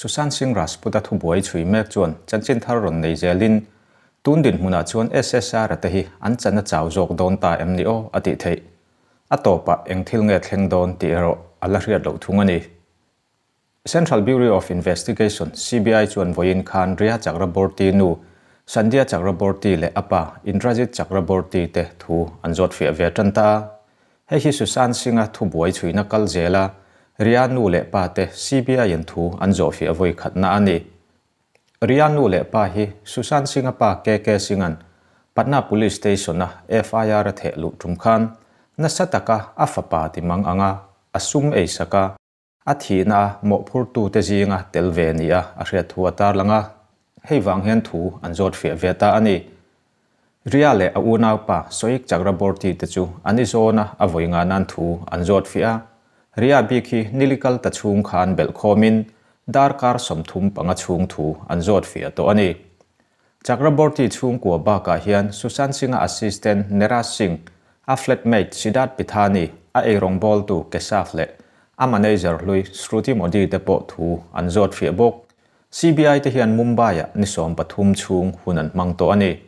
Sushant Singh Rajput-a thu buai chhui mek chuan chanchin thar rawn nei zelin, Tun dinhmunah chuan SSR-a te hi an chana chau zawk dawn ta em ni aw? a tih theih. A tawpah eng thil nge thleng dawn tih erawh a la hriat loh thung a ni. Central Bureau of Investigation, CBI, chuan vawiin Khandria Chakraborty nu Sandhya Chakraborty leh a pa Indrajit Chakraborty te thu an zawt fiah ve ṭan ta a. Hei hi Susan Singh-a thu buai chhuina kal zel a, Ria nu leh pa te CBI-in thu an zawh fiah vawikhatna a ni. Ria nu leh pa hi Susan Singh-a pa KK Singh-an Patna Police Station-a FIR a theh luh tum khan nasa taka a fapa timang anga a sum ei sak a, A thihna a mawhphurtute zinga tel ve ni a a hriat thu a tarlang a, hei vang hian thu an zawt hria ve ta a ni. Ria leh a unaupa Soik Chakraborty te chu an i zawn a, a vawi ngah nan thu an zawt fiah a. Ria bik hi nili kal ta chhung khan belh khawmin darkar sawmthum panga chhung thu an zawt fiah tawh a ni. Chakraborty chhungkua bakah hian Sushant Singha assistant Niraj Singh, a flat mate Siddharth Pithani, a eirawngbawl-tu Keshav leh a manager hlui Shruti Modi te pawh thu an zawt hria bawk. CBI te hian Mumbai-ah ni sawm pathum chhung hun an hmang tawh a ni.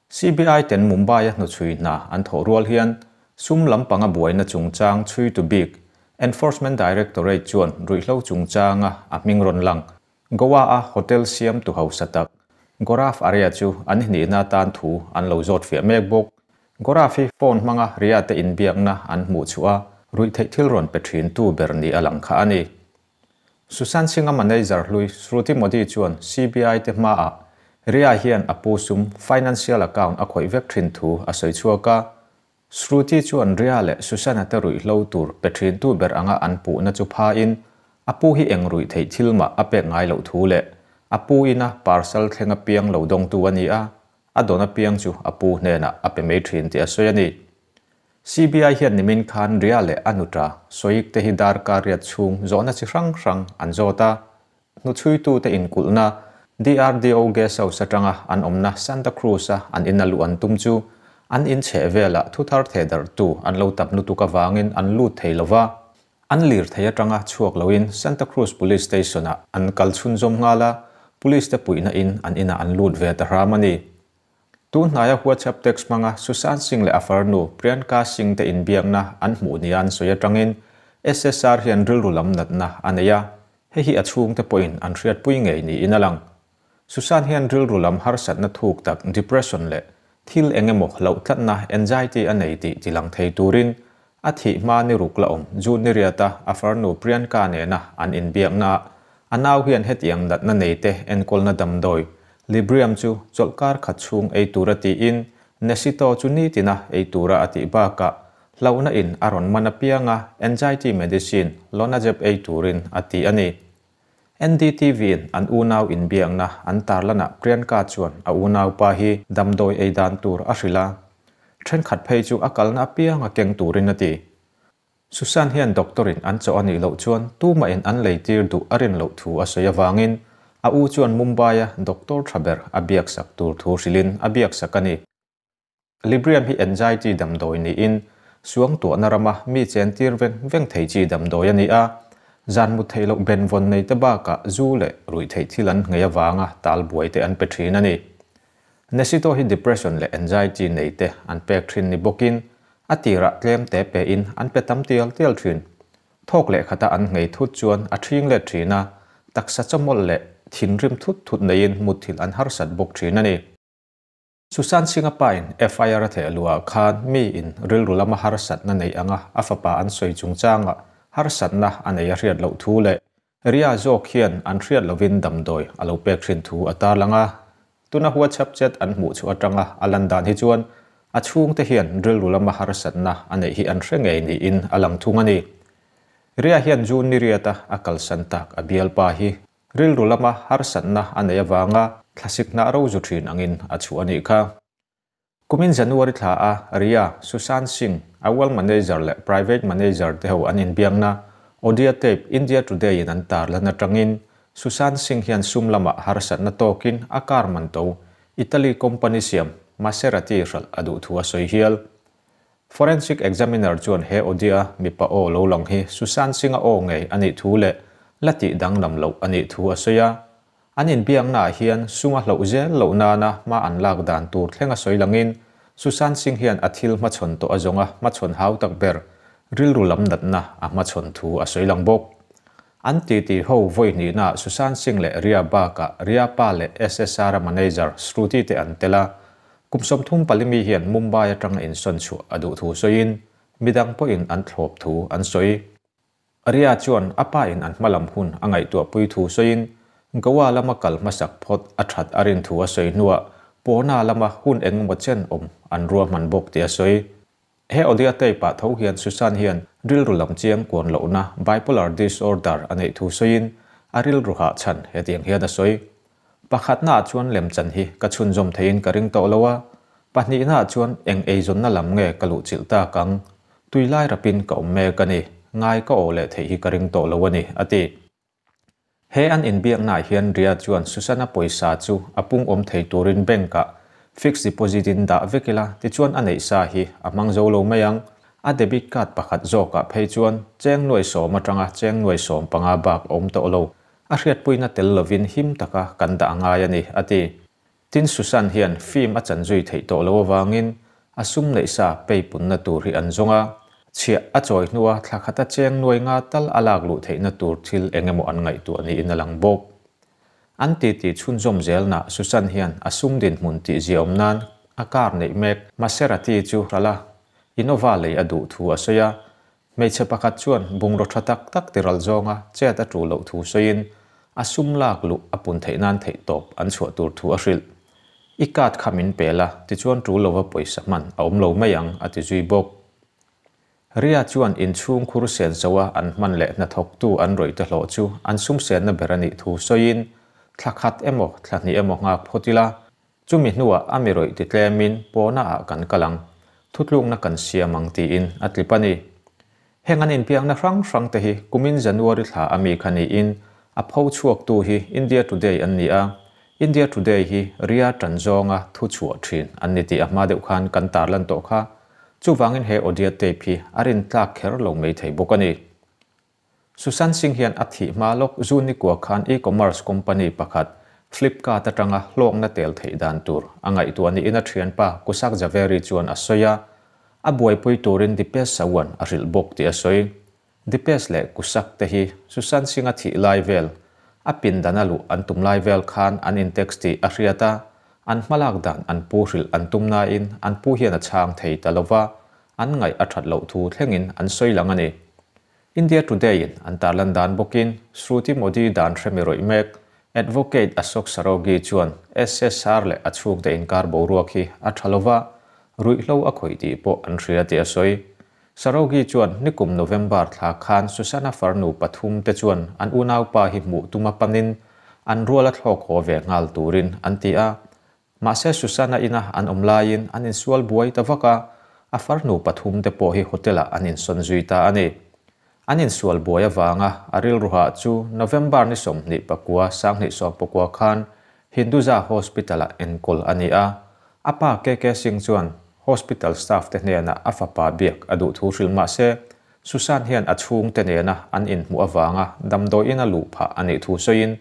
CBI ten Mumbai-a hnuchhui hna an thawh rual hian sum lam panga buaina chungchang chhui tu bik Enforcement Directorate chuan ruihhlo chungchanga a hming rawn lang Goa-a hotel siamtu hausa tak Goraf Arya chu an hnihna atan thu an lo zawt fiah mek bawk. Goraf hi phone hmanga Riyadh-a inbiakna an hmuh chuh a, ruihtheih thil rawn pe thintu ber ni a lang kha a ni. Susan Singh-a manager hlui Shruti Modi chuan CBI-te hmaah Riyadh hian a pu sum financial account a khawih vek thin thu a sawi chhuak a, Shruti chu an ria leh Susanna-te ruihhlo tur pe thintu ber anga an puhna chu phain, A pu hi eng ruih theih thil mah a pek ngai loh thu leh a pu ina parcel thleng apiang lo dawng tu a ni a, a dawn apiang chu a pu hnenah a pe mai thin tih a sawi a ni. CBI hian nimin khan ria leh a nuta sawik te hi darkariat chhung zawhna chi hrang hrang an zawt a, Hnuchhuitute inkulhna, DRDO Guest House atanga an awmna Santa Cruz-a an ina luh an tum chu an in chheh velah thuthar thehdarhtu an lo tap lutuk avangin an lut thei lo va, an lirthei atanga chhuak loin Santa Cruz Police Station-ah an kal chhunzawm nghal a, Police-te puihna in an inah an lut ve ta hram a ni. Tu hnaia WhatsApp text hmanga Susan Singh leh a far nu Priyanka Singh te inbiakna an hmuh nia an sawi atangin SSR hian rilru lam natna a nei a, hei hi a chhungte pawhin an hriat pui ngei niin a lang. Susan hian rilru lam harsatna thuk tak, depression, leh thil eng emaw hlauhtlatna, anxiety, a nei tih tilang thei turin A thih hma ni ruk la awm, June ni riata a farnu Priyanka nena an inbiakna ah a nau hian hetiang natna nei te enkawlna damdawi Librium chu chawlh kar khat chhung ei tura tiin Nesitol chu nitina ei tura a tih bakah hlona in a rawn man apianga anxiety medicine Lonazep ei turin a ti a ni. NDTV-in an unau inbiakna an tar lanah Priyanka chuan a unaupa hi damdawi ei dan tur a hrilh a, thenkhat phei chu a kalna apianga keng turin a ti. Susan hian doctor-in an chawh a nih loh chuan tumain an lei tir duh a rin loh thu a sawi avangin a u chuan Mumbai-a doctor tha ber a biaksak tur thu hrilhin a biaksak a ni. Librium hi anxiety damdawi niin suangtuahna rama mi chen tir veng veng thei chi damdawi a ni a, zan mut theih loh ben vawn nei te bakah zu leh ruih theih thil an ngei avanga talbuai te an pe thin a ni. Nesito hi depression leh anxiety nei te an pek thin ni bawkin a tirah tlem te pehin an pe tam tial tial thin. Thawk lehkhata an ngei thut chuan a thing let thin a, taksa chawmawlh leh thinrim thut thut neiin mutthil an harsat bawk thin a ni. Susan Singh a pain FIR a theih a luah khan mi in rilru lama harsatna neih anga a fapa an sawi chungchanga harsatna a nei a hriat loh thu leh ria zawk hian an hriat lovin damdawi a lo pek thin thu a tarlang a. Tuna huatchhap chet an hmuh chu atanga a lan dan hi chuan a chhungte hian rilru lama harsatna a neih hi an hre ngei niin a lang thung a ni. Ria hian June ni riata a kalsan tak a bialpa hi Rilru lama harsatna a nei avanga thlasik hnah ro zu thin angin a chhuah a nih kha. Kumin January thla a, Ria, Sushant Singh, Awal Manager leh Private Manager te ho an inbiakna Audia Tape India Today in an tar lan atangin Sushant Singh hian sum lama harsatna tawkin a car man to Italy company siam Maserati hralh a duh thu a sawi hial. Forensic Examiner chuan he Odia mipa aw lo lang hi Susan Singh-a aw ngei a nih thu leh la tih danglam loh a nih thu a sawi a. An inbiaknaah hian sung a hloh zel loh nana hma an lak dan tur thleng a sawi langin Susan Singh hian a thil hmachhawn tawh a zawnga hmachhawn hau tak ber rilru lam natna a hmachhawn thu a sawi lang bawk. An titi ho vawi hnihnaah Susan Singh leh Ria bakah Ria pa leh SSR-a manager Shruti te an tel a, Kum sawmthum pali mi hian Mumbai atanga insawn chhuah a duh thu sawiin mi dang pawhin an thlawp thu an sawi. Aria chuan a pain an hmalam hun a ngaihtuah pui thu sawiin Goa lama kal hmasak phawt a that a rin thu a sawi hnuah Pawna lama hun engemaw chen awm an ruahman bawk tih a sawi. He audio tape ah tho hian Susan hian rilru lam chiang kuan lohna, bipolar disorder, a neih thu sawiin a rilru hah chhan hetiang hian a sawi, Pakhatnaah chuan lemchan hi ka chhunzawm theiin ka ring tawh lo a, pahnihnaah chuan eng eizawnna lam nge ka luhchilh tak ang? Tuilai rapin ka awm mek a ni, ngai ka awh leh theih hi ka ring tawh lo a ni, a ti. He an inbiaknaah hian Ria chuan Susana pawisa chu a pungawm thei turin bank-ah fixed deposit in dah vek ila, tichuan a neih sa hi a hmang zo lo mai ang. A debit card pakhat zawkah phei chuan cheng nuai sawm atanga cheng nuai sawm panga bak a awm tawh lo. A hriatpuina tel lovin him taka kan dah a ngai a ni, a ti. Tin, Susan hian film a chan zui theih tawh lo avangin a sum neih sa pei punna tur hi an zawng a, chhiah a chawi hnu a thlakhat a cheng nuai nga tal a lak luh theihna tur thil eng emaw an ngaihtuah a niin a lang bawk. An titi chhunzawm zel nah Susan hian a sum dinhmun tih zia awm nan a kar neih mek Maserati chu hralh a, Innova lei a duh thu a sawi a, Hmeichhe pakhat chuan bungraw tha tak tak tiral zawng a chet a ṭu loh thu sawiin a sum lak luh a pun theih nan theih tawp an chhuah tur thu a hrilh. I card kha min pel a, tichuan ṭu lova pawisa hman a awm lo mai ang, a ti zui bawk. Ria chuan in chhung khur sen soa an hman leh hnathawktu an rawite hlawh chu an sumsenna ber a nih thu sawiin thla khat emaw thla hnih emaw nghak phawt ila, Chumi hnuah a mirawih ti tlemin pawna ah kan kal ang, thutlukna kan siam ang tiin a tlip a ni. Heng an inpiakna hrang hrang te hi kumin January thla a mi kha niin a pho chhuaktu hi India Today an ni a, India Today hi Ria tan zawnga thu chhuah thin an ni tih a hma deuh khan kan tar lan tawh kha, chuvangin he audio tape hi a rin tlak kher lo mai thei bawk a ni. Susan Singh hian a thih hma lawk June ni kua khan e-commerce company pakhat Flipkart atanga hlawkna tel theih dan tur a ngaihtuah niin a thianpa Kushak Jhaveri chuan a sawi a, a buaipui turin Dipesh Sawan a hrilh bawk tih a sawi. Dipesh leh Kushak te hi Susan Singh a thih lai vel, a pindan a luh an tum lai vel khan an intext tih a hriat a, an hmalak dan an pu hrilh an tum nain an pu hian a chhang thei ta lo va, an ngaih a that loh thu thlengin an sawi lang a ni. India Today-in an tarlan dan bawkin Shruti Modi dan hre mi rawih mek Advocate Ashok Saraogi chuan SSR leh a chhukte inkar boruak hi a tha lo va, ruihhlo a khawih tih pawh an hria tih a sawi. Saraogi chuan nikum November thla khan Susana farnu pathum te chuan an unaupa hi hmuh tuma panin an rual a thlawk haw ve nghal turin an ti a, Mahse Susana ina an awm laiin an insual buai ta vak a, a farnu pathum te pawh hi hotel ah an insawn zui ta a ni. An insual buai avanga a rilruha chu November ni sawmhnih pakua sanghnih sawm pakua khan Hinduja Hospital ah enkawl a ni a, a pa KK Singh chuan hospital staff te hnenah a fapa biak a duh thu hrilh mahse Susan hian a chhungte nena an inhmuh avanga damdawiin a luh phah a nih thu sawiin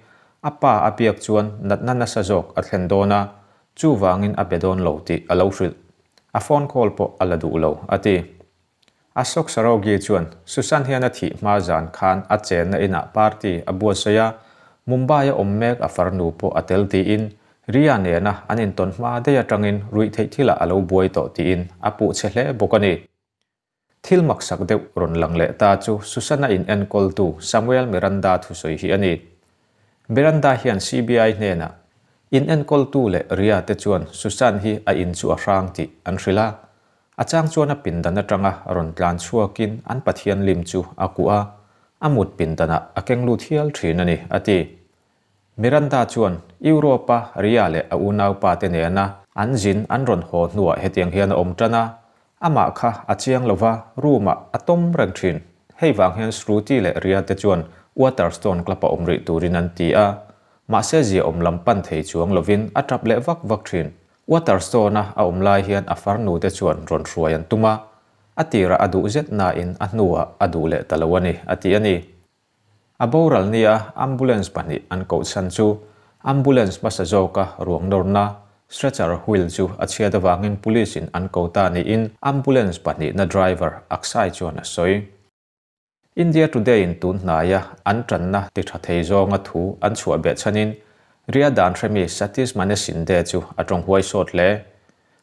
A pa a piak chuan natna nasa zawk a thlen dawn a, chuvangin a be dawn lo tih a lo hrilh. A phone call pawh a la duh lo, a ti. Ashok Saraogi chuan Susan hian a thih hma zan khan a chenna inah party a buatsawi a, Mumbai a awm mek a far nu pawh a tel tiin Riya nena an intawn hma daih atangin ruihtheih thilah a lo buai tawh tiin a puh chhe hle bawk a ni. Thil maksak deuh rawn lang leh ta chu Susana in enkawltu Samuel Miranda thusawi hi a ni. Miranda hian CBI hnenah, In enkawltu leh Ria te chuan Susan hi a in chu a hrang tih an hrilh a, a chang chuan a pindan atanga a rawn tlan chhuakin an Pathian lim chu a kuh a, a mut pindanah a keng lut hial thin a ni, a ti. Miranda chuan Europe-a Ria leh a unaupate nena an zin an rawn haw hnuah hetiang hian a awm tan a, amah kha a chiang lo va, room-ah a tawm reng thin. Hei vang hian Shruti leh Ria te chuan Waterstone Club-a awm rih turin an ti a, mahse zia awm lam pan thei chuang lovin a tap leh vak vak thin. Waterstone-a a awm lai hian a farnu te chuan rawn hruai an tum a, a tirah a duh zet nain a hnuah a duh leh ta lo a ni, a ti a ni. A boral nia ambulance pahnih an koh chhan chu ambulance hmasa zawka ruang nawrna stretcher wheel chu a chhiat avangin police in an ko ta niin ambulance pahnihna driver Aksai chuan a sawi. India Today in tun hnaia an tanna ti tha thei zawnga thu an chhuah beh chhanin riadan hremi Satish Mane Shinde chu a tawng huaisawt hle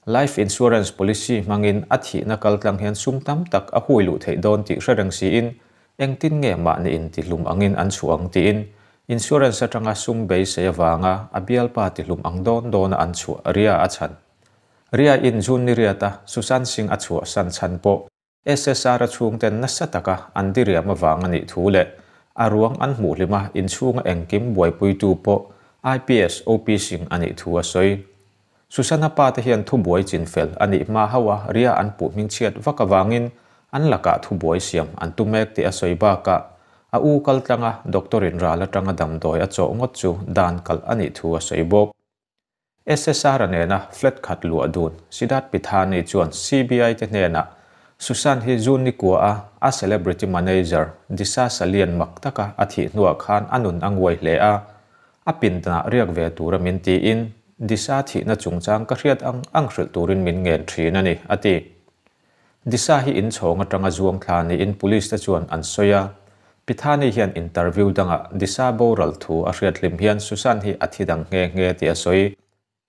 Life insurance policy hmangin a thihna kal tlang hian sum tam tak a hui luh theih dawn tih hre reng siin, engtin nge mahni in tihlum angin an chhuah ang tiin insurance atanga sum beisei avanga a bialpa tihlum ang dawn dawna an chhuah, Ria a chhan. Ria in June niriata Susan Singh a chhuahsan chhan pawh SSR-a chhungten nasa taka an diriam avanga nih thu leh a ruang an hmuhlim a, inchhunga engkim buaipuitu pawh IPS OP Singh a nih thu a sawi. Susana pa te hian thu buai chin fel a nih hma ho a, ria an puhming chhiat vak avangin an lakah thu buai siam an tu mek tih a sawi bakah a u kal tlanga doctor-in ral atanga damdawi a chawh ngawt chu dan kalh a nih thu a sawi bawk. SSR-a nena flat khat luah dun Siddharth Pithani chuan CBI-te hnenah Sushant hi June ni kuaha a celebrity manager Disha Salian mak taka a thih hnuah khan a nun a nguai hle a, a pindna riak ve tura min tiin Disha thihna chungchang ka hriat ang ang hrilh turin min ngen thin a ni, a ti. Disha hi in chhawng atanga zuang thla niin police te chuan an sawi a. Pithani hian interview dangah Disha boral thu a hriat hlim hian Susan hi a thi dang nghe nghe tih a sawi.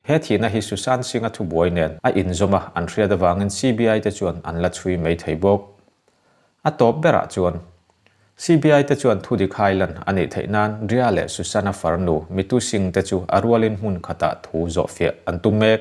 He thihna hi Susan Singha thubuai nen a inzawm a, an hriat avangin CBI te chuan an la chhui mai thei bawk. A tawp berah chuan, CBI te chuan thudik hailan a nih theih nan Ria leh Susan-a farnu Mitu Singh te chu a rualin hmun khatah thu zawh fiah an tu mek